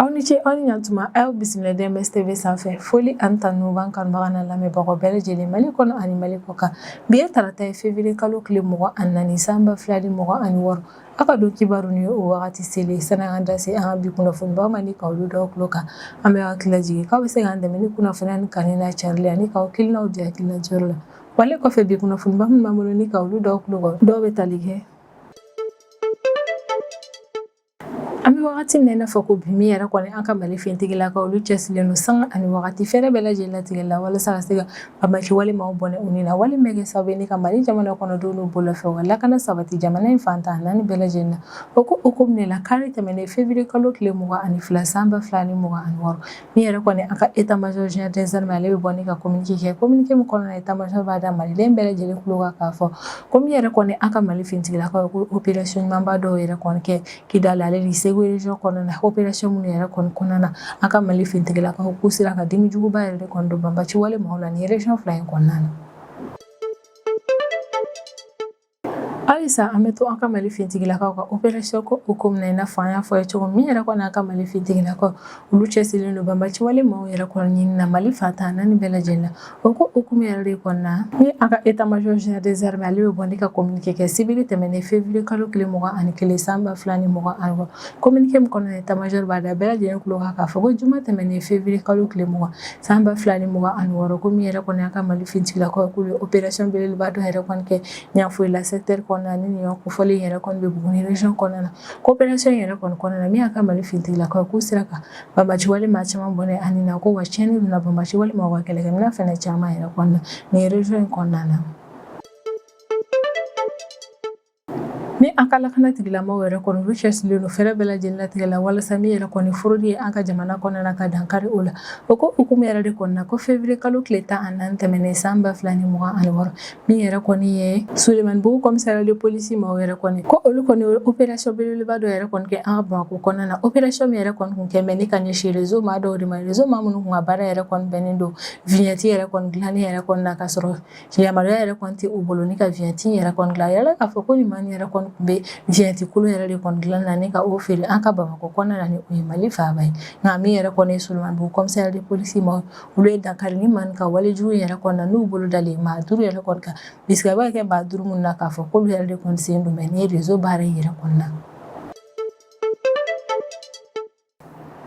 Aw ni ce aw ni ɲantuma aw bisimila DMS TV sanfɛ foli ani tanu b'an kanubaga n'a lamɛnbagaw bɛɛ lajɛlen Mali kɔnɔ ani Mali kɔ kan bi ye tarata ye février kalo tile mugan ani naani san ba fila ni mugan ani wɔɔrɔ aw ka don kibaru ni o wagati selen sani an ka da se an ka bi kunnafonibaw ma ni ka olu da aw tulo kan an bɛ aw hakili lajigin k'aw bɛ se k'an dɛmɛ ni kunnafoniya ni kanuni n'a carili ani k'aw hakilinaw di hakilinajirayɔrɔ la Wale kɔfɛ bi kunnafoniba minnu b'an bolo ni ka olu da aw tulo kan dɔw bɛ tali kɛ an bɛ wagati min na i n'a fɔ ko bi min yɛrɛ kɔni an ka Mali fintigilakaw olu cɛsirilen don sanga ani wagati fɛɛrɛ bɛɛ lajɛlen latigɛ la walasa ka se ka banbaanci wale maaw bɔnɛ u ni na wale min bɛ kɛ sababu ye ni ka Mali jamana kɔnɔdenw n'u bolofɛnw ka lakana sabati jamana in fan tan naani bɛɛ lajɛlen na o ko hukumu de la kari tɛmɛnen février kalo tile mugan ani fila san ba fila ni mugan ani wɔɔrɔ Min yɛrɛ kɔni an ka état major général des armées ale bɛ bɔ ni ka communiqué kɛ communiqué min kɔnɔ état major b'a da maliden bɛɛ lajɛlen tulo kan k'a fɔ ko min yɛrɛ kɔni an ka Mali fintigilakaw ko opération ɲumanba dɔw yɛrɛ kɔni kɛ Kidali ale ni Segu région kɔnɔna na opération minnu yɛrɛ kɔni kɔnɔna na an ka Mali fintigilakaw k'u sera ka dimi juguba yɛrɛ de kɔni don banbaanci wale maaw la nin région fila in kɔnɔna na Halisa an bɛ to an ka Mali fintigilakaw ka opération ko hukumu na i n'a fɔ an y'a fɔ ye cogo min yɛrɛ kɔni an ka Mali fintigilakaw olu cɛsirilen don banbaanci wale maaw yɛrɛ kɔni ɲini na Mali fan tan naani bɛɛ lajɛlen na o ko hukumu yɛrɛ de kɔnɔna na ni an ka état major général des armées ale bɛ bɔ ni ka communiqué kɛ sibiri tɛmɛnen février kalo tile mugan ani kelen san ba fila ni mugan ani wɔɔrɔ communiqué min kɔnɔ état major b'a da bɛɛ lajɛlen tulo kan k'a fɔ ko juma tɛmɛnen février kalo tile mugan San ba fila ni mugan ani wɔɔrɔ ko min yɛrɛ kɔni an ka Mali fintigilakaw k'u ye opération belebeleba dɔ yɛrɛ kɔni kɛ Yanfolila secteur kɔnɔna ni nin kofɔlen yɛrɛ kɔni bɛ Buguni région kɔnɔna na ko opération yɛrɛ kɔni kɔnɔna na min ye an ka Mali fintigilakaw k'u sera ka banbaanci wale maa caman bɔnɛ u ni na ko wa tiɲɛni donna banbaanci wale maaw ka kɛlɛkɛminɛn fana caman yɛrɛ kɔni na nin région in kɔnɔna na Ni an ka lakana tigilamɔgɔw yɛrɛ kɔni olu cɛsirilen don fɛɛrɛ bɛɛ lajɛlen latigɛ la walasa min yɛrɛ kɔni fraude ye an ka jamana kɔnɔna na ka dankari o la o ko hukumu yɛrɛ de kɔnɔna na ko février kalo tile tan ani naani tɛmɛnen san ba fila ni mugan ani wɔɔrɔ min yɛrɛ kɔni ye Sulemanibugu commissariat de police maaw yɛrɛ kɔni ko olu kɔni ye opération belebeleba dɔ yɛrɛ kɔni kɛ an ka Bamakɔ kɔnɔna na opération min yɛrɛ kɔni tun kɛlen bɛ ni ka ɲɛsin réseau maa dɔw de ma réseau maa minnu tun ka baara yɛrɛ kɔni bɛnnen don vignette yɛrɛ kɔni dilanni yɛrɛ kɔni na ka sɔrɔ Yamaruya yɛrɛ kɔni tɛ u bolo ni ka vignette yɛrɛ kɔni dilan yala k'a fɔ ko nin maa yɛrɛ kɔni tun bɛ vignette kolon yɛrɛ de kɔni dilan na ni ka o feere an ka Bamakɔ kɔnɔna na ni o ye Mali faaba ye nka min yɛrɛ kɔni ye Sulemanibugu commissariat de police maaw olu ye dankari nin maaw ka walejugu yɛrɛ kɔni na n'u bolo dalen maa duuru yɛrɛ kɔni kan bisiki bɛ kɛ maa duuru minnu na k'a fɔ k'olu yɛrɛ de kɔni sen don nin réseau baara yɛrɛ kɔni na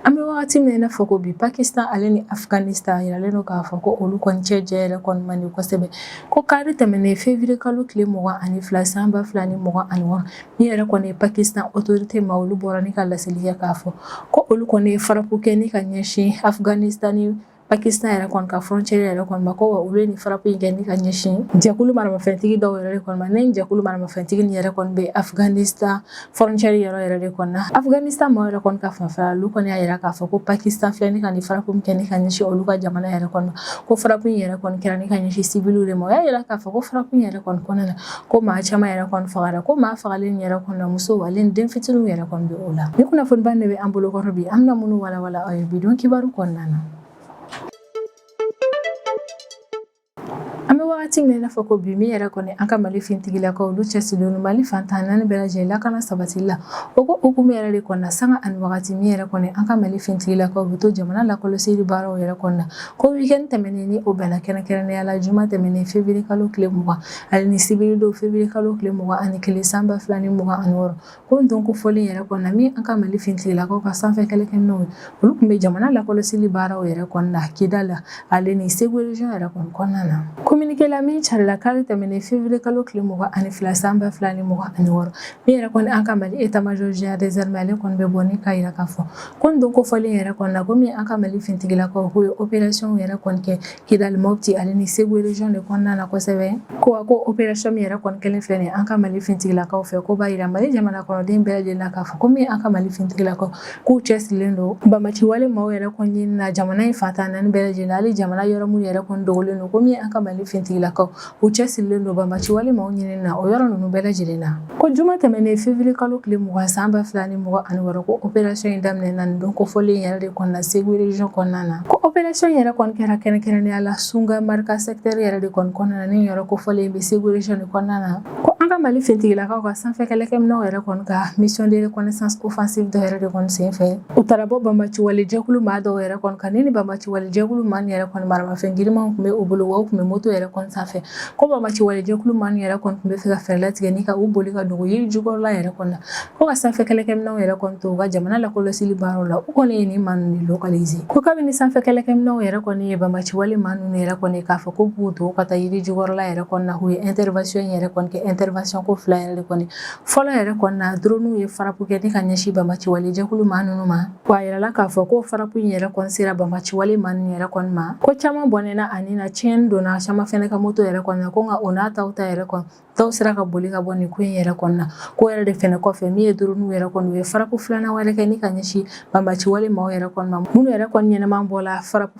An bɛ wagati min n'a fɔ ko bi pakistan ale ni afganistan yiralen don k'a fɔ ko olu kɔni cɛ jɛ yɛrɛ kɔni man di kosɛbɛ ko kari tɛmɛnen fevrier kalo tile mugan ani fila san ba fila ni mugan ani wɔɔrɔ min yɛrɛ kɔni ye pakistan autorité maa olu bɔra ni ka laseli kɛ k'a fɔ ko olu kɔni ye farapu kɛ ni ka ɲɛsin afganistan ni Pakistan yɛrɛ kɔni ka frontière yɛrɛ kɔni ma ko wa olu ye nin farapu in kɛ ni ka ɲɛsin jɛkulu maramafɛntigi dɔw yɛrɛ de kɔni ma ni jɛkulu maramafɛntigi ni yɛrɛ kɔni bɛ afganistan frontière yɔrɔ yɛrɛ de kɔni na afganistan maaw yɛrɛ kɔni ka fanfɛ olu kɔni y'a yira k'a fɔ ko pakistan filɛ ni ka nin farapu kɛ ni ka ɲɛsin olu ka jamana yɛrɛ kɔni ma ko farapu in yɛrɛ kɔni kɛra ni ka ɲɛsin civilw de ma o y'a jira k'a fɔ ko farapu in yɛrɛ kɔni kɔnɔna na ko maa caman yɛrɛ kɔni fagara ko maa fagalen yɛrɛ kɔni na muso ale ni den fitininw yɛrɛ kɔni bɛ o la ni kunnafoniba de bɛ an bolo kɔrɔ bi an bɛna minnu walawala aw ye bidon kibaru kɔnɔna na an bɛ wagati min i n'a fɔ ko bi min yɛrɛ kɔni an ka mali fintigilakaw olu cɛsirilen don mali fantan naani bɛɛ lajɛlen lakana sabatili la o ko hukumu yɛrɛ de kɔnɔna sanga ani wagati min yɛrɛ kɔni an ka mali fintigilakaw bɛ to jamana lakɔlɔsili baaraw yɛrɛ kɔnɔna ko weekend tɛmɛnen ni o bɛnna kɛrɛnkɛrɛnnenya la juma tɛmɛnen fevrier kalo tile mugan ale ni sibiri don fevrier kalo tile mugan ani kelen san ba fila ni mugan ani wɔɔrɔ ko don kofɔlen yɛrɛ kɔnɔna min an ka mali fintigilakaw ka sanfɛ kɛlɛkɛminɛw ye olu tun bɛ jamana lakɔlɔsili baaraw yɛrɛ kɔnɔna kidali ale ni segu region yɛrɛ kɔni kɔnɔna na communiqué la min carila kari tɛmɛnen fevrier kalo tile mugan ani fila san ba fila ni mugan ani wɔɔrɔ min yɛrɛ kɔni an ka mali état major général des armées ale kɔni bɛ bɔ ni k'a yira k'a fɔ ko don kofɔlen yɛrɛ kɔnɔna ko min an ka mali fintigilakaw k'u ye opération yɛrɛ kɔni kɛ Kidali Mopti ale ni Segu region de kɔnɔna na kosɛbɛ ko a ko operation min yɛrɛ kɔni kɛlen filɛ nin ye an ka Mali fintigilakaw fɛ ko b'a jira Mali jamana kɔnɔden bɛɛ lajɛlen na k'a fɔ ko min an ka Mali fintigilakaw k'u cɛsirilen don banbaanciwale maaw yɛrɛ kɔni ɲinini na jamana in fantan naani bɛɛ lajɛlen na hali jamana yɔrɔ minnu yɛrɛ kɔni dogolen don ko min an ka Mali fintigilakaw U cɛsirilen don banbaanciwale maaw ɲini na o yɔrɔ ninnu bɛɛ lajɛlen na ko juma tɛmɛnen fevrier kalo tile mugan san ba fila ni mugan ani wɔɔrɔ ko operation in daminɛna nin don kofɔlen yɛrɛ de kɔnɔna na segu region kɔnɔna na ko operation yɛrɛ kɔni kɛra kɛrɛnkɛrɛnnenya la sunga marika secteur yɛrɛ de kɔni kɔnɔna na nin yɔrɔ kofɔlen bɛ segu region de kɔnɔna na ko an ka mali fintigilakaw ka sanfɛ kɛlɛkɛminɛw yɛrɛ kɔni ka mission de reconnaissance offensive dɔ yɛrɛ de kɔni senfɛ U taara bɔ banbaanciwalejɛkulu maa dɔw yɛrɛ kɔni kan ni banbaanciwalejɛkulu maa min yɛrɛ kɔni maramafɛn girimanw tun bɛ u bolo wa u tun bɛ moto yɛrɛ kɔni sanfɛ ko banbaanciwalejɛkulu maa min yɛrɛ kɔni tun bɛ fɛ ka fɛɛrɛ latigɛ ni ka u boli ka dogo yiri jukɔrɔla yɛrɛ kɔni na ko ka sanfɛ kɛlɛkɛminɛnw yɛrɛ kɔni to u ka jamana lakɔlɔsili baaraw la u kɔni ye nin maa ninnu localiser ko kabini sanfɛ kɛlɛkɛminɛnw yɛrɛ kɔni ye banbaanciwale maa ninnu yɛrɛ kɔni k'a fɔ k'u b'u dogo ka taa yiri jukɔrɔla yɛrɛ kɔni na u ye intervention yɛrɛ kɔni kɛ intervention ko fila yɛrɛ de kɔni fɔlɔ yɛrɛ kɔni na drone ye farapu kɛ ni ka ɲɛsin banbaci wale jɛkulu maa ninnu ma wa a yirala k'a fɔ ko farapu in yɛrɛ kɔni sera banbaci wale maa ninnu yɛrɛ kɔni ma ko caman bɔnɛna a ni na tiɲɛni donna caman fɛnɛ ka moto yɛrɛ kɔni na ko nka o n'a ta o ta yɛrɛ kɔni dɔw sera ka boli ka bɔ nin ko in yɛrɛ kɔni na k'o yɛrɛ de fɛnɛ kɔfɛ min ye drone yɛrɛ kɔni u ye farapu filanan wɛrɛ kɛ ni ka ɲɛsin banbaci wale maaw yɛrɛ kɔni ma minnu yɛrɛ kɔni ɲɛnama bɔla farapu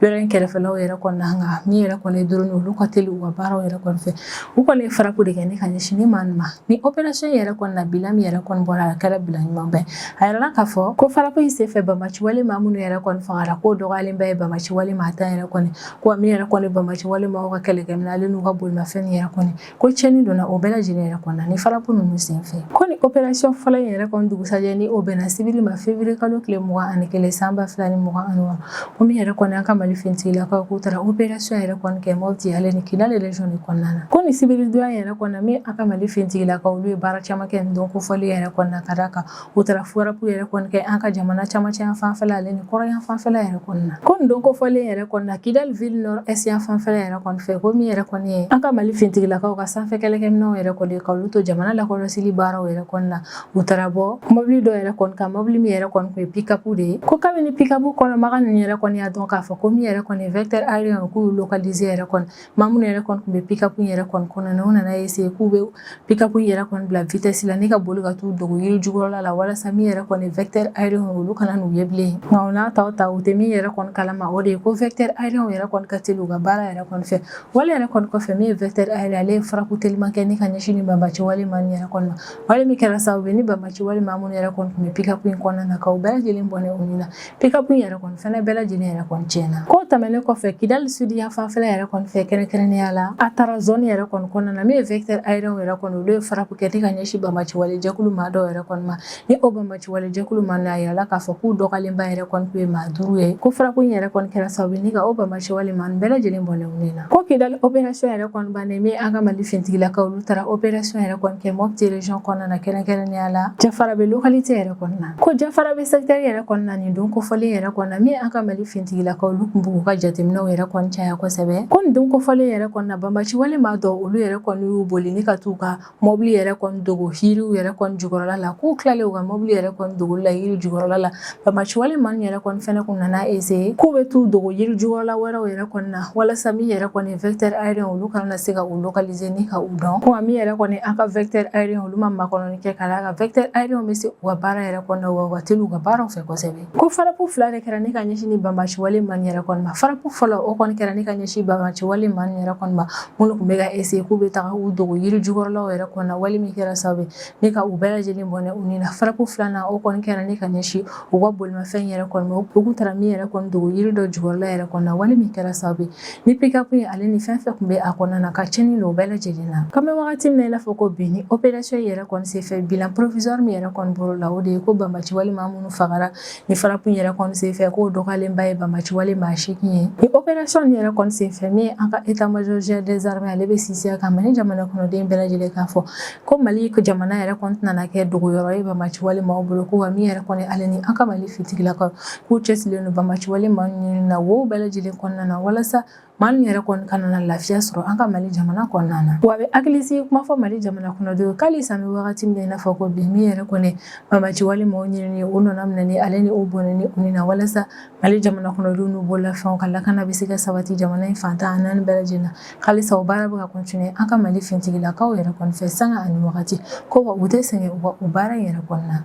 yɔrɔ in kɛrɛfɛlaw yɛrɛ kɔni na nka min yɛrɛ kɔni ye drone olu ka teli u ka baaraw yɛrɛ kɔni fɛ u kɔni ye farapu de kɛ ni ka ɲɛsin ni maa ninnu ma ni opération yɛrɛ kɔni na bilan min yɛrɛ kɔni bɔra a kɛra bilan ɲumanba ye a yirala k'a fɔ ko farapu in senfɛ banbaci wale maa minnu yɛrɛ kɔni fagara k'o dɔgɔyalenba ye banbaci wale maa tan yɛrɛ kɔni ko min yɛrɛ kɔni banbaci wale maaw ka kɛlɛkɛminɛn ale n'u ka bolimafɛn yɛrɛ kɔni ko tiɲɛni donna o bɛɛ lajɛlen yɛrɛ kɔni na ni farapu ninnu senfɛ ko ni operasiyɔn fɔlɔ in yɛrɛ kɔni dugusajɛ ni o bɛnna sibiri ma fevriye kalo tile mugan ani kelen san ba fila ni mugan ani wɔɔrɔ ko min yɛrɛ kɔni an ka mali fintigilakaw k'u taara operasiyɔn yɛrɛ kɔni kɛ Mopti ale ni kidali région de kɔnɔna na ko ni sibiri donya yɛrɛ kɔni na min an ka mali fintigilakaw olu ye baara caman kɛ nin don kofɔlen yɛrɛ kɔni na ka d'a kan U taara farapu yɛrɛ kɔni kɛ an ka jamana cɛmancɛ yan fanfɛla ale ni kɔrɔn fanfɛla yɛrɛ kɔni na ko nin don kofɔlen yɛrɛ kɔni na kidali ville nord est yan fanfɛla yɛrɛ kɔni fɛ ko min yɛrɛ kɔni ye an ka mali fintigilakaw ka sanfɛ kɛlɛkɛminɛnw yɛrɛ kɔni ka olu to jamana lakɔlɔsili baaraw yɛrɛ kɔni na u taara bɔ mɔbili dɔ yɛrɛ kɔni kan mɔbili min yɛrɛ kɔni tun ye pikapu de ye ko kabini pikapu kɔnɔmaa ninnu yɛrɛ kɔni y'a dɔn k'a fɔ ko min yɛrɛ kɔni vecteur aérien k'u lokalize yɛrɛ kɔni maa minnu yɛrɛ kɔni tun bɛ pikapu yɛrɛ kɔni kɔnɔ na u nana essayer k'u bɛ pikapu yɛrɛ kɔni bila vitɛsi la ni ka boli ka t'u dogo yiri jukɔrɔla la walasa min yɛrɛ kɔni vecteur aérien olu kana n'u ye bilen nka o n'a ta o ta u tɛ min yɛrɛ kɔni kalama o de ye ko vecteur aérien yɛrɛ kɔni ka teli u ka baara yɛrɛ kɔni fɛ wale yɛrɛ kɔni kɔfɛ min ye vecteur aérien ale ye farapu teliman kɛ ni ka ɲɛsin ni banbaci wale maa yɛrɛ kɔni ma wale min kɛra sababu ni banbaci wale maa minnu yɛrɛ kɔni tun bɛ pikapu in kɔnɔna na ka u bɛɛ lajɛlen bɔnɛ u ni na Pikapu in yɛrɛ kɔni fɛnɛ bɛɛ lajɛlen yɛrɛ kɔni tiɲɛna ko tɛmɛnen kɔfɛ kidali sudi yan fanfɛla yɛrɛ kɔni fɛ kɛrɛnkɛrɛnnenya la a taara zone yɛrɛ kɔni kɔnɔna na min ye vecteur aérien yɛrɛ kɔni olu ye farapu kɛ ni ka ɲɛsin banbaci wale jɛkulu maa dɔw yɛrɛ kɔni ma ni o banbaci wale jɛkulu maa ninnu a yirala k'a fɔ k'u dɔgɔyalenba yɛrɛ kɔni tun ye maa duuru ye ko farapu yɛrɛ kɔni kɛra sababu ni ka o banbaci wale maa ninnu bɛɛ lajɛlen bɔnɛ Ko kidali opération yɛrɛ kɔni bannen min an ka mali fintigilakaw olu taara opération yɛrɛ kɔni kɛ Mopti région kɔnɔna na kɛrɛnkɛrɛnnenya la jafarabɛ localité yɛrɛ kɔnɔna na ko jafarabɛ secteur yɛrɛ kɔnɔna nin don kofɔlen yɛrɛ kɔnɔna min an ka mali fintigilakaw olu tun b'u ka jateminɛw yɛrɛ kɔni caya kosɛbɛ ko nin don kofɔlen yɛrɛ kɔnɔna banbaci wale maa dɔw olu yɛrɛ kɔni y'u boli ni ka taa u ka mɔbili yɛrɛ kɔni dogo yiriw yɛrɛ kɔni jukɔrɔla la k'u tilalen u ka mɔbili yɛrɛ kɔni dogoli la yiri jukɔrɔla la banbaci wale maa in yɛrɛ kɔni fɛnɛ tun nana essayer k'u bɛ t'u dogo yiri jukɔrɔla wɛrɛw yɛrɛ kɔni na walasa min yɛrɛ kɔni vecteur aérien olu kana na se ka u lokalize ni ka u dɔn ko min yɛrɛ kɔni an ka vecteur aérien olu ma makɔnɔni kɛ ka d'a kan vecteur aérien bɛ se u ka baara yɛrɛ kɔnɔ na wa u ka teli u ka baara fɛ kosɛbɛ Ko farapu fila de kɛra ni ka ɲɛsin nin banbaci wale maa yɛrɛ kɔni ma farapu fɔlɔ o kɔni kɛra ni ka ɲɛsin banbaci wale maa yɛrɛ kɔni ma minnu tun bɛ ka eseye k'u bɛ taa u dogo yiri jukɔrɔlaw yɛrɛ kɔni na wale min kɛra sababu ni ka u bɛɛ lajɛlen bɔnɛ u ni na farapu filanan o kɔni kɛra ni ka ɲɛsin u ka bolimafɛn yɛrɛ kɔni ma u tun taara min yɛrɛ kɔni dogo yiri dɔ jukɔrɔla yɛrɛ kɔni na wale min kɛra sababu ni pikapu in ale ni fɛn fɛn kun bɛ a kɔnɔna na ka cɛnni don o bɛɛ lajɛlen na k'an bɛ wagati min na i n'a fɔ ko bi ni operasiyɔn yɛrɛ kɔni senfɛ bilan provisɔri min yɛrɛ kɔni bolo la o de ye ko banbaci wale maa minnu fagara ni farapu yɛrɛ kɔni senfɛ k'o dɔgɔyalenba ye banbaci wale maa seegin ye ni operasiyɔn yɛrɛ kɔni senfɛ min ye an ka état-major général des armées ale bɛ sinsin a kan mali jamana kɔnɔden bɛɛ lajɛlen k'a fɔ ko mali jamana yɛrɛ kɔni tɛna kɛ dogoyɔrɔ ye banbaci wale maaw bolo ko wa min yɛrɛ kɔni ale ni an ka mali fintigilakaw k'u cɛsirilen don banbaci wale maa ɲini na wo bɛɛ lajɛlen kɔnɔna na walasa maa min yɛrɛ kɔni kana na lafiya sɔrɔ an ka mali jamana kɔnɔna na wa a bɛ hakilisigi kuma fɔ mali jamana kɔnɔdenw ko halisa an bɛ wagati min na i n'a fɔ ko bi min yɛrɛ kɔni banbaci wale maaw ɲinini o nana minɛni ale ni o bɔnɛni u ni na walasa mali jamana kɔnɔdenw n'u bololafɛnw ka lakana bɛ se ka sabati jamana in fan tan ni naani bɛɛ lajɛlen na halisa o baara bɛ ka kɔntine an ka mali fintigilakaw yɛrɛ kɔni fɛ sanga ani wagati ko wa u tɛ sɛgɛn u baara in yɛrɛ kɔnɔna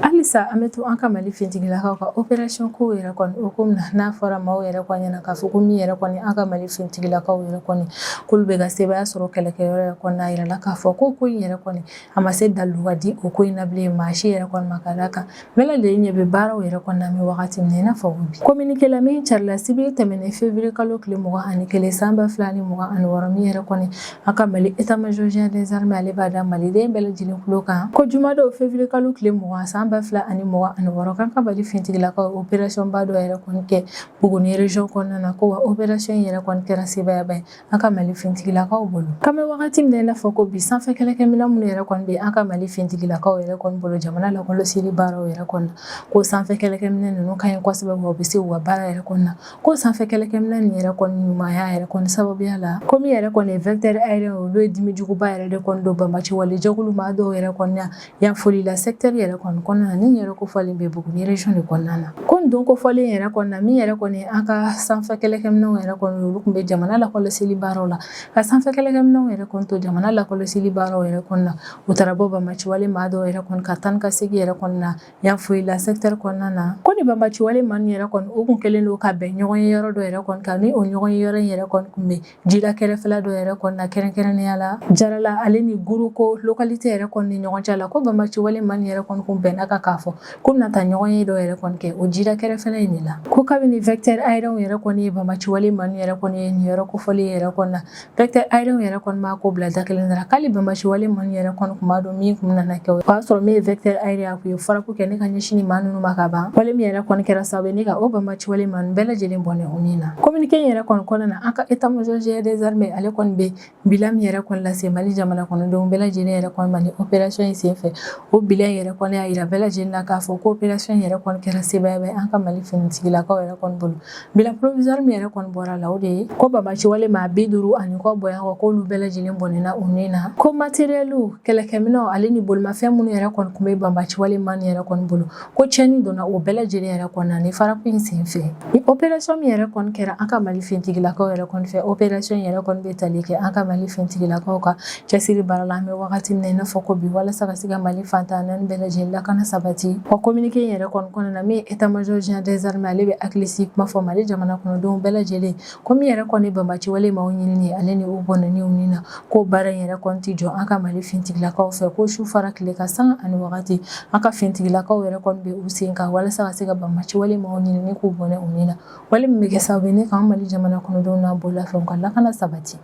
Halisa an bɛ to an ka mali fintigilakaw ka operasiyɔn ko yɛrɛ kɔni hukumu na n'a fɔra maaw yɛrɛ kɔni ɲɛna k'a fɔ ko min yɛrɛ kɔni an ka mali fintigilakaw yɛrɛ kɔni k'olu bɛ ka sebaya sɔrɔ kɛlɛkɛyɔrɔ yɛrɛ kɔni n'a yirala k'a fɔ ko ko in yɛrɛ kɔni a ma se daliluya di o ko in na bilen maa si yɛrɛ kɔni ma ka d'a kan bɛɛ lajɛlen ɲɛ bɛ baaraw yɛrɛ kɔni na an bɛ wagati min na i n'a fɔ bi kominike la min carila sibiri tɛmɛnen février kalo tile mugan ani kelen san ba fila ni mugan ani wɔɔrɔ min yɛrɛ kɔni An ka mali état-major général des armées ale b'a da maliden bɛɛ lajɛlen tulo kan ko jumadon février kalo tile mugan san ba fila ani mugan ani wɔɔrɔ k'an ka mali fintigilakaw operasiyɔnba dɔ yɛrɛ kɔni kɛ Buguni région kɔnɔna na ko wa operasiyɔn in yɛrɛ kɔni kɛra sebayaba ye an ka mali fintigilakaw bolo k'an bɛ wagati min na i n'a fɔ ko bi sanfɛ kɛlɛkɛminɛn minnu yɛrɛ kɔni bɛ an ka mali fintigilakaw yɛrɛ kɔni bolo jamana lakɔlɔsili baaraw yɛrɛ kɔnɔ ko sanfɛ kɛlɛkɛminɛn ninnu ka ɲi kɔsɛbɛ u bɛ se u ka baara yɛrɛ kɔni na ko sanfɛ kɛlɛkɛminɛn nin yɛrɛ kɔni ɲumanya yɛrɛ kɔni sababuya la ko min yɛrɛ kɔni vecteur aérien olu ye dimi juguba yɛrɛ de kɔni don banbaci wale jɛkulu maa dɔw yɛrɛ kɔni na Yanfolila secteur yɛrɛ kɔni kɔnɔna nin yɔrɔ kofɔlen bɛ Buguni région de kɔnɔna na ko don kofɔlen yɛrɛ kɔnɔna min yɛrɛ kɔni an ka sanfɛ kɛlɛkɛminɛnw yɛrɛ kɔni olu tun bɛ jamana lakɔlɔsili baaraw la ka sanfɛ kɛlɛkɛminɛnw yɛrɛ kɔni to jamana lakɔlɔsili baaraw yɛrɛ kɔnɔna u taara bɔ banbaci wale maa dɔw yɛrɛ kɔni ka taa ka segin yɛrɛ kɔnɔna Yanfolila secteur kɔnɔna na ko nin banbaci wale maa ninnu yɛrɛ kɔni u tun kɛlen don ka bɛn ɲɔgɔn ye yɔrɔ dɔ yɛrɛ kɔni kan ni o ɲɔgɔn ye yɔrɔ in yɛrɛ kɔni tun bɛ jida kɛrɛfɛla dɔ yɛrɛ kɔni na kɛrɛnkɛrɛnnenya la jarala ale ni guruko localité yɛrɛ kɔni ni ɲɔgɔn cɛ la ko banbaci wale maa ninnu yɛrɛ kɔni tun bɛnna a kan k'a fɔ ko bɛna taa ɲɔgɔn ye dɔ yɛrɛ kɔni kɛ o jida kɛrɛfɛ in de la ko kabini vecteur aérien yɛrɛ kɔni ye banbaci wale maa yɛrɛ kɔni ye nin yɔrɔ kofɔlen yɛrɛ kɔnɔ na Vecteur aérien yɛrɛ kɔni b'a ko bila da kelen na k'ale banbaci wale maa ninnu yɛrɛ kɔni tun b'a dɔn min tun nana kɛ o y'a sɔrɔ min ye vecteur aérien ye a tun ye frappe kɛ ni ka ɲɛsin maa ninnu ma ka ban wale min yɛrɛ kɔni kɛra sababu ye ni ka o banbaci wale maa ninnu bɛɛ lajɛlen bɔnɛ u ni na communiqué in yɛrɛ kɔni kɔnɔna na an ka état major général des armées ale kɔni bɛ bilan min yɛrɛ kɔni lase Mali jamana kɔnɔdenw bɛɛ lajɛlen yɛrɛ kɔni ma ni opération in senfɛ o bilan in yɛrɛ kɔni y'a jira bɛɛ lajɛlen na k'a fɔ ko opération in yɛrɛ kɔni kɛra sebaaya ye an ka Mali finitigilakaw yɛrɛ kɔni bolo Bilan provisoire min yɛrɛ kɔni bɔra la o de ye ko banbaciwale maa bi duuru ani kɔ bɔ kɔ k'olu bɛɛ lajɛlen bɔnɛna u ni na ko matériel kɛlɛkɛminɛ ale ni bolomafɛn minnu yɛrɛ kɔni tun bɛ banbaciwale maa yɛrɛ kɔni bolo ko tiɲɛni donna o bɛɛ lajɛlen yɛrɛ kɔni na ni frappe in sen fɛ ni opération min yɛrɛ kɔni kɛra an ka mali finitigilakaw yɛrɛ kɔni fɛ opération yɛrɛ kɔni bɛ tali kɛ an ka mali finitigilakaw ka Cɛsiri baara la an bɛ wagati min na i n'a fɔ ko bi walasa ka se ka Mali fan tan ni naani bɛɛ lajɛlen lakana sabati o communiqué in yɛrɛ kɔni kɔnɔna na min ye état major général des armées ale bɛ hakilisigi kuma fɔ Mali jamana kɔnɔdenw bɛɛ lajɛlen ko min yɛrɛ kɔni ye banbaciwale maaw ɲinini ye ale ni u bɔnɛni u ni na k'o baara in yɛrɛ kɔni tɛ jɔ an ka Mali fintigilakaw fɛ ko su fara tile kan sanga ani wagati an ka fintigilakaw yɛrɛ kɔni bɛ u sen kan walasa ka se ka banbaciwale maaw ɲinini k'u bɔnɛ u ni na wale min bɛ kɛ sababu ye ni k'an Mali jamana kɔnɔdenw n'a bololafɛnw ka lakana sabati.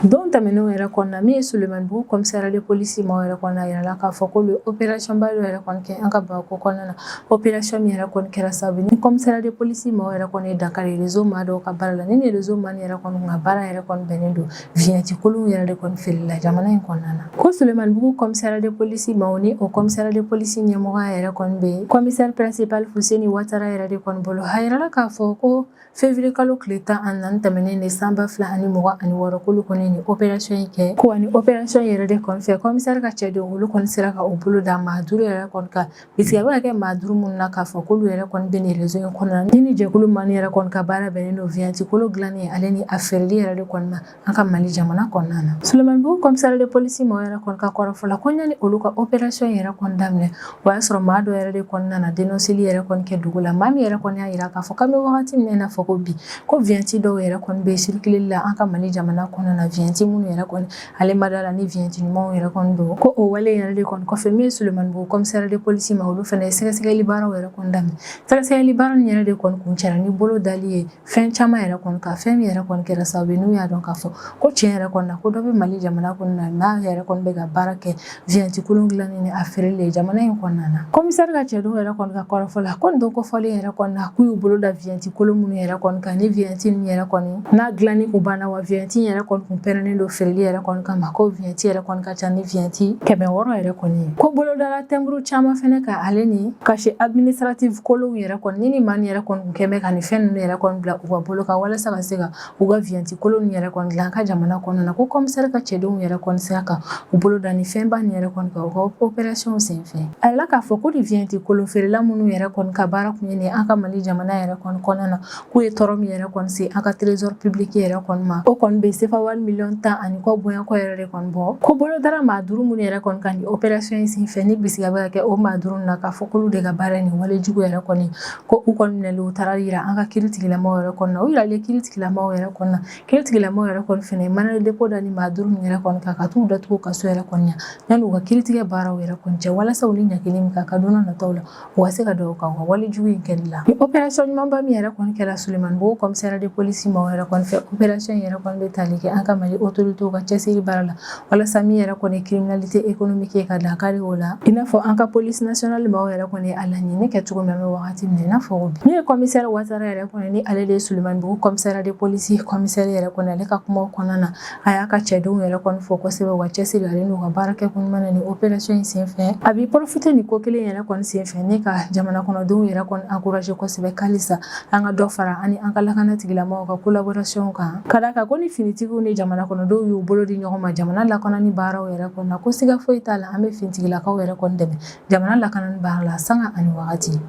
Don tɛmɛnenw yɛrɛ kɔnɔna min ye Sulemanibugu commissariat de police maaw yɛrɛ kɔnɔna yirala k'a fɔ k'olu ye opération ba dɔ yɛrɛ kɔni kɛ an ka Bamakɔ kɔnɔna na opération min yɛrɛ kɔni kɛra sababu ye ni commissariat de police maaw yɛrɛ kɔni ye dankari réseau maa dɔw ka baara la ni nin réseau maa yɛrɛ kɔni ka baara yɛrɛ kɔni bɛnnen don vignette kolonw yɛrɛ de kɔni feereli la jamana in kɔnɔna na ko Sulemanibugu commissariat de police maaw ni o commissariat de police ɲɛmɔgɔya yɛrɛ kɔni bɛ commissaire principal Fuseni Watara yɛrɛ de kɔni bolo a yirala k'a fɔ ko Février kalo tile tan ani naani tɛmɛnen de san ba fila ani mugan ani wɔɔrɔ k'olu kɔni ye nin opération in kɛ ko ani opération in yɛrɛ de kɔni fɛ commissaire ka cɛdenw olu kɔni sera ka u bolo da maa duuru yɛrɛ kɔni kan bisigi bɛ ka kɛ maa duuru minnu na k'a fɔ k'olu yɛrɛ kɔni bɛ nin réseau in kɔnɔna na ni nin jɛkulu maa min yɛrɛ kɔni ka baara bɛnnen don vignette kolon dilanni ale ni a feereli yɛrɛ de kɔni ma an ka mali jamana kɔnɔna na Sulemanibugu commissariat de police maaw yɛrɛ kɔni ka kɔrɔfɔ la ko ɲani olu ka opération yɛrɛ kɔni daminɛ o y'a sɔrɔ maa dɔ yɛrɛ de kɔni nana dénonceli yɛrɛ kɔni kɛ dugu la maa min yɛrɛ kɔni y'a yira k'a fɔ k'an bɛ wagati min na i n'a fɔ ko bi ko vignette dɔw yɛrɛ kɔni bɛ circuleli la an ka mali jamana kɔnɔna na vignette minnu yɛrɛ kɔni ale ma da la ni vignette ɲumanw yɛrɛ kɔni don ko o wale yɛrɛ de kɔni kɔfɛ min ye Sulemanibugu commissariat de police maaw olu fana ye sɛgɛsɛgɛli baaraw yɛrɛ kɔni daminɛ sɛgɛsɛgɛli baara nin yɛrɛ de kɔni kuncɛra ni bolo dali ye fɛn caman yɛrɛ kɔni kan fɛn min yɛrɛ kɔni kɛra sababu ye n'u y'a dɔn k'a fɔ ko tiɲɛ yɛrɛ kɔni na ko dɔ bɛ mali jamana kɔnɔna na n'a yɛrɛ kɔni bɛ ka baara kɛ vignette kolon dilanni ni a feereli ye jamana in kɔnɔna na commissaire ka cɛdenw yɛrɛ kɔni ka kɔrɔfɔ la ko nin don kofɔlen yɛrɛ kɔni na k'u y'u bolo da vignette kolon minnu yɛrɛ kɔni kan ni vignette ninnu yɛrɛ kɔni n'a dilanni kun banna wa vignette yɛrɛ kɔni kun pɛrɛnnen don feereli yɛrɛ kɔni kama ko vignette yɛrɛ kɔni ka ca ni vignette kɛmɛ wɔɔrɔ yɛrɛ kɔni ye ko bolo dala timbre caman fɛnɛ kan ale ni cachet administratif kolonw yɛrɛ kɔni ni ni maa nin yɛrɛ kɔni Kɛ bɛ ka nin fɛn ninnu yɛrɛ kɔni bila u ka bolo kan walasa ka se ka u ka vignette kolon yɛrɛ kɔni dilan an ka jamana kɔnɔna na ko commissaire ka cɛdenw yɛrɛ kɔni sera ka u bolo da nin fɛnba ni yɛrɛ kɔni kan opération senfɛ a yirala k'a fɔ ko nin vignette kolon feerela minnu yɛrɛ kɔni ka baara tun ye nin an ka mali jamana yɛrɛ kɔni kɔnɔna na k'u ye tɔɔrɔ min yɛrɛ kɔni se an ka trésor public yɛrɛ kɔni ma o kɔni bɛ sefa wari miliyɔn tan ani kɔ bɔɲɔgɔnko yɛrɛ de kɔni bɔ ko bolo dara maa duuru minnu yɛrɛ kɔni kan opération in senfɛ ni bisigi bɛ ka kɛ o maa duuru na k'a fɔ k'olu de ka baara nin wale jugu yɛrɛ kɔni ko u kɔni minɛnen u taara jira an ka kiiritigɛla maaw yɛrɛ kɔni na u jiralen kiiritigɛla maaw yɛrɛ kɔni na kiiritigɛla maaw yɛrɛ kɔni fana mandat de dépôt da nin maa duuru ninnu yɛrɛ kɔni kan ka taa u datugu kaso yɛrɛ kɔnɔ yanni u ka kiiritigɛ baaraw yɛrɛ kɔni cɛ walasa u ni ɲangili min ka kan don nataw la o ka se ka d'u kan wale jugu in kɛli la opération ɲumanba min yɛrɛ kɔni kɛra sulemanibugu commissariat de police maaw yɛrɛ kɔni fɛ opération yɛrɛ bɛ tali kɛ an ka mali autoritéw ka cɛsiri baara la walasa min yɛrɛ kɔni criminalité économique ye ka dankari o la i n'a fɔ an ka police nationale maaw yɛrɛ kɔni ye a laɲini kɛ cogo min an bɛ wagati min i n'a fɔ bi min ye commissaire watara yɛrɛ kɔni ni ale de ye sulemanibugu commissariat de police commissaire yɛrɛ kɔni ale ka kumaw kɔnɔna na a y'a ka cɛdenw yɛrɛ kɔni fo kosɛbɛ u ka cɛsiri ale n'u ka baara kɛko ɲuman na nin opération in senfɛ a b'i profiter nin ko kelen yɛrɛ kɔni senfɛ ni ka jamana kɔnɔdenw yɛrɛ kɔni encourager kosɛbɛ halisa an ka dɔ fara an ni an ka lakana tigilamɔgɔw ka collaboration kan ka d'a kan ko ni finitigiw ni jamana kɔnɔdenw y'u bolo di ɲɔgɔn ma jamana lakanani baaraw yɛrɛ kɔni na ko siga foyi t'a la an bɛ finitigilakaw yɛrɛ kɔni dɛmɛ jamana lakanani baara la sanga ani wagati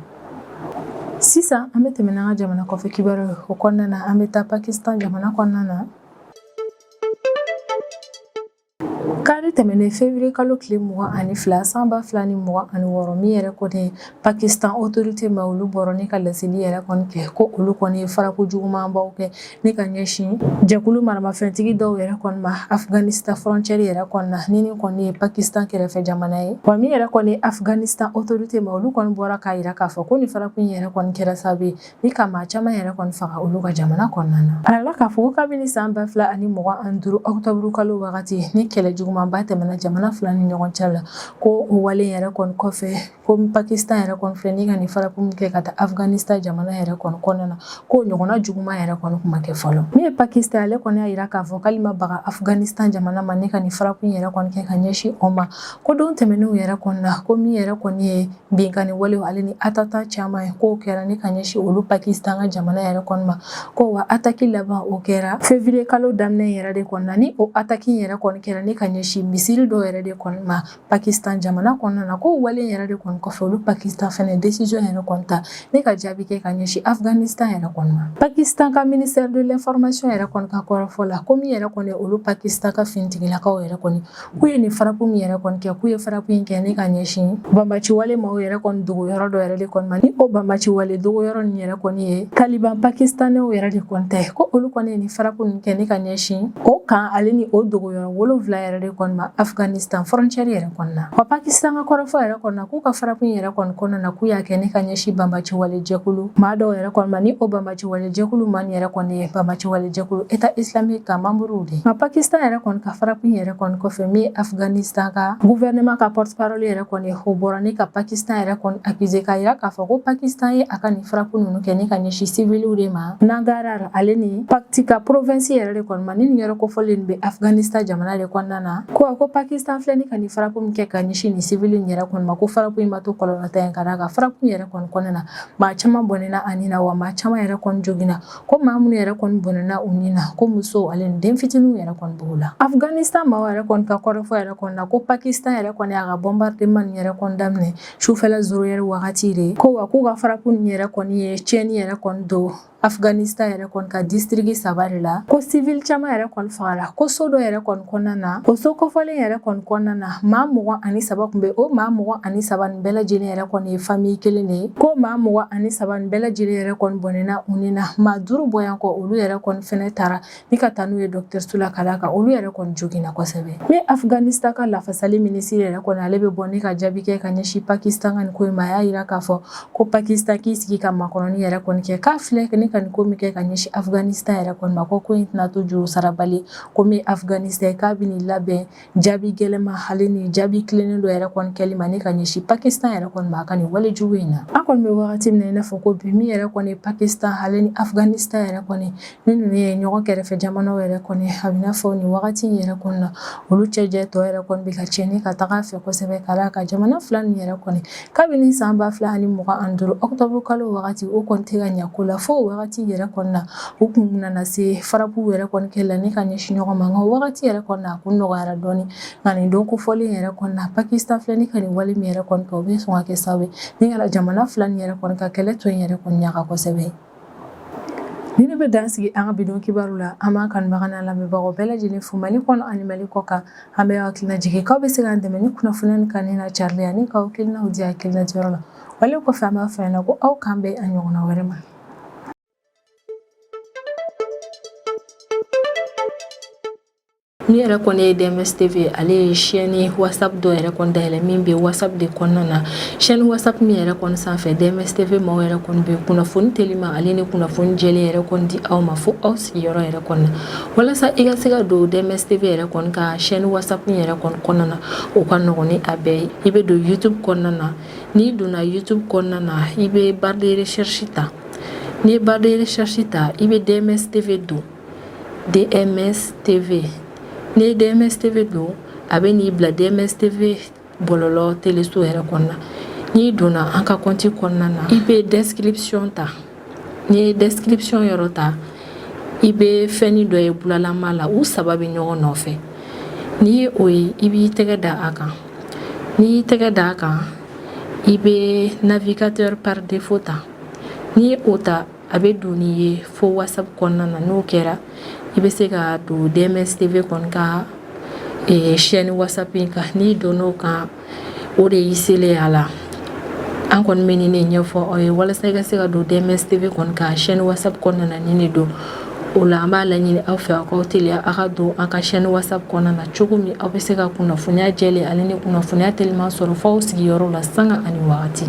sisan an bɛ tɛmɛ n'an ka jamana kɔfɛ kibaruw kɔnɔna na an bɛ taa pakistan jamana kɔnɔna na Kari tɛmɛnen février kalo tile mugan ani fila san ba fila ni mugan ani wɔɔrɔ min yɛrɛ kɔni ye pakistan autorité maaw olu bɔra ni ka laseli yɛrɛ kɔni kɛ ko olu kɔni ye frappe jugumanbaw kɛ ni ka ɲɛsin jɛkulu maramafɛntigi dɔw yɛrɛ kɔni ma afghanistan frontière yɛrɛ kɔni na ni nin kɔni ye pakistan kɛrɛfɛ jamana ye wa min yɛrɛ kɔni afghanistan autorité maaw olu kɔni bɔra k'a jira k'a fɔ ko nin frappe in yɛrɛ kɔni kɛra sababu ye Ni ka maa caman yɛrɛ kɔni faga olu ka jamana kɔnɔna na a yirala k'a fɔ ko kabini san ba fila ani mugan ani duuru octobre kalo wagati ni kɛlɛ jugumanba tɛmɛna jamana fila ni ɲɔgɔn cɛ la ko o wale yɛrɛ kɔni kɔfɛ ko pakistan yɛrɛ kɔni filɛ ni ka nin frappe min kɛ ka taa afghanistan jamana yɛrɛ kɔni kɔnɔna na ko ɲɔgɔnna juguman yɛrɛ kɔni kun ma kɛ fɔlɔ min ye pakistan ale kɔni y'a jira k'a fɔ k'ale ma baga afghanistan jamana ma ni ka nin frappe in yɛrɛ kɔni kɛ ka ɲɛsin o ma ko don tɛmɛnenw yɛrɛ kɔnɔna na ko min yɛrɛ kɔni ye binkanni walew ale ni attentat caman ye k'o kɛra ni ka ɲɛsin olu pakistan ka jamana yɛrɛ kɔni ma ko wa attaque laban o kɛra février kalo daminɛ yɛrɛ de kɔni na ni o attaque yɛrɛ kɔni kɛra ni ka ɲɛsin misiri dɔw yɛrɛ de kɔni ma pakistan jamana kɔnɔna na k'o wale yɛrɛ de kɔni kɔfɛ olu pakistan fɛnɛ décision yɛrɛ kɔni ta ni ka jaabi kɛ ka ɲɛsin afghanistan yɛrɛ kɔni ma pakistan ka ministère de l'information yɛrɛ kɔni ka kɔrɔfɔ la ko min yɛrɛ kɔni olu pakistan ka finitigilakaw yɛrɛ kɔni K'u ye nin frappe min yɛrɛ kɔni kɛ k'u ye frappe in kɛ ne ka ɲɛsin banbaciwale maaw yɛrɛ kɔni dogo yɔrɔ dɔ yɛrɛ de kɔni ma ni o banbaciwale dogo yɔrɔ nin yɛrɛ kɔni ye taliban pakistanɛw yɛrɛ de kɔni tɛ ko olu kɔni ye nin frappe nin kɛ ne ka ɲɛsin o kan ale ni o dogo yɔrɔ wolonwula yɛrɛ de kɔni ma afghanistan frontière yɛrɛ kɔni na wa pakistan ka kɔrɔfɔ yɛrɛ kɔni na k'u ka frappe yɛrɛ kɔni kɔnɔna na k'u y'a kɛ ne ka ɲɛsin banbaciwale jɛkulu maa dɔw yɛrɛ kɔni ma ni o banba Jɛkulu maa nin yɛrɛ kɔni ye banbaciwale jɛkulu état islamique ka membre de nka pakistan yɛrɛ kɔni ka frappe yɛrɛ kɔni kɔfɛ min ye afghanistan ka gouvernement ka porte-parole yɛrɛ kɔni o bɔra ne ka pakistan yɛrɛ kɔni accusé k'a jira k'a fɔ ko pakistan ye a ka nin frappe ninnu kɛ ne ka ɲɛsin civilw de ma nangarhar ale ni paktika province yɛrɛ de kɔni ma ni nin yɛrɛ kofɔlen bɛ afghanistan jamana de kɔnɔna na ko a ko pakistan filɛ ni ka nin frappe min kɛ ka ɲɛsin nin civil yɛrɛ kɔni ma ko frappe in ma to kɔlɔlɔntan ye ka d'a kan frappe yɛrɛ kɔni kɔnɔna na maa caman bɔnɛna a ni na wa maa caman yɛrɛ kɔni joginna ko maa minnu yɛrɛ kɔni bɔnɛna u ni na ko musow ale ni den fitininw yɛrɛ kɔni b'o la afghanistan maaw yɛrɛ kɔni ka kɔrɔfɔ yɛrɛ kɔni na ko pakistan yɛrɛ kɔni y'a ka bombardement nin yɛrɛ kɔni daminɛ sufɛla zéro heure wagati de ko wa k'u ka frappe nin yɛrɛ kɔni ye tiɲɛni yɛrɛ kɔni don Afghanistan yɛrɛ kɔni ka district saba de la ko civil caman yɛrɛ kɔni fagala ko so dɔ yɛrɛ kɔni kɔnɔna na o so kofɔlen yɛrɛ kɔni kɔnɔna na maa mugan ani saba kun bɛ o maa mugan ani saba nin bɛɛ lajɛlen yɛrɛ kɔni ye famille kelen de ye ko maa mugan ani saba nin bɛɛ lajɛlen yɛrɛ kɔni bɔnɛna u ni na maa duuru bɔ yan kɔ olu yɛrɛ kɔni fɛnɛ taara ni ka taa n'u ye dɔgɔtɔrɔso la ka d'a kan olu yɛrɛ kɔni joginna kosɛbɛ ni afghanistan ka lafasali minisiri yɛrɛ kɔni ale bɛ bɔ ne ka jaabi kɛ ka ɲɛsin pakistan ka nin ko in ma a y'a jira k'a fɔ ko pakistan k'i sigi ka makɔnɔni yɛrɛ kɔni kɛ k'a filɛ ne ka nin ko min kɛ ka ɲɛsin afghanistan yɛrɛ kɔni ma ko ko in tɛna to juru sarabali ko min afghanistan k'a bɛ nin labɛn Jaabi gɛlɛma hali ni jaabi tilennen dɔ yɛrɛ kɔni kɛli ma ne ka ɲɛsin pakistan yɛrɛ kɔni ma a ka nin wale jugu in na an kɔni bɛ wagati min na i n'a fɔ ko bi min yɛrɛ kɔni pakistan hali ni afghanistan yɛrɛ kɔni ni ninnu ye ɲɔgɔn kɛrɛfɛ jamanaw yɛrɛ kɔni a bɛ n'a fɔ nin wagati in yɛrɛ kɔni na olu cɛjɛ tɔ yɛrɛ kɔni bɛ ka cɛn ni ka taga fɛ kosɛbɛ ka d'a kan jamana fila nin yɛrɛ kɔni kabini san ba fila ani mugan ani duuru ɔkutɔburu kalo wagati o kɔni tɛ ka ɲako la fo o wagati yɛrɛ kɔni na u kun nana se frappe yɛrɛ kɔni kɛ la ni ka ɲɛsin ɲɔgɔn ma nka o wagati yɛrɛ kɔni na a kun nɔgɔyara dɔɔni nka nin don kofɔlen yɛrɛ kɔni na pakistan filɛ ni ka nin wale min yɛrɛ kɔni kɛ o bɛ sɔn ka kɛ sababu ye ni ka jamana fila nin yɛrɛ kɔni ka kɛlɛ to in yɛrɛ kɔni ɲaga kosɛbɛ Ni ne bɛ dan sigi an ka bi don kibaru la an b'an kanubaga n'an lamɛnbagaw bɛɛ lajɛlen fo Mali kɔnɔ ani Mali kɔ kan an bɛ aw hakilina jigin k'aw bɛ se k'an dɛmɛ ni kunnafoniya ni kanuni n'a carili ani k'aw hakilinaw di hakilina diyɔrɔ la wale kɔfɛ an b'a fɔ ɲɛna ko aw k'an bɛn a ɲɔgɔnna wɛrɛ ma Ni yɛrɛ kɔni ye DMS TV ale ye chaîne WhatsApp dɔ yɛrɛ kɔni dayɛlɛ min bɛ WhatsApp de kɔnɔna na chaîne WhatsApp min yɛrɛ kɔni sanfɛ DMS TV maaw yɛrɛ kɔni bɛ kunnafoni telima ale ni kunnafoni jɛlen yɛrɛ kɔni di aw ma fo aw sigiyɔrɔ yɛrɛ kɔni na walasa i ka se ka don DMS TV yɛrɛ kɔni ka chaîne WhatsApp min yɛrɛ kɔni kɔnɔna na o ka nɔgɔn ni a bɛɛ ye i bɛ don YouTube kɔnɔna na n'i donna YouTube kɔnɔna na i bɛ barre de recherche ta n'i ye barre de recherche ta i bɛ DMS TV don DMS TV n'i ye DMS TV don a bɛ n'i bila DMS TV bɔlɔlɔ teleso yɛrɛ kɔnɔna n'i donna an ka kɔnti kɔnɔna na i bɛ description ta n'i ye description yɔrɔ ta i bɛ fɛnni dɔ ye bulalama la u saba bɛ ɲɔgɔn nɔfɛ n'i ye o ye i b'i tɛgɛ da a kan n'i y'i tɛgɛ da a kan i bɛ navigateur par défaut ta n'i ye o ta A bɛ don n'i ye fo WhatsApp kɔnɔna na n'o kɛra i bɛ se ka don DMS TV kɔni ka chaîne WhatsApp in kan n'i donn'o kan o de y'i selen a la an kɔni bɛ nin de ɲɛfɔ aw ye walasa i ka se ka don DMS TV kɔni ka chaîne WhatsApp kɔnɔna na nin de don o la an b'a laɲini aw fɛ aw k'aw teliya aw ka don an ka chaîne WhatsApp kɔnɔna na cogo min aw bɛ se ka kunnafoniya jɛlen ale ni kunnafoniya teliman sɔrɔ f'aw sigiyɔrɔ la sanga ani waati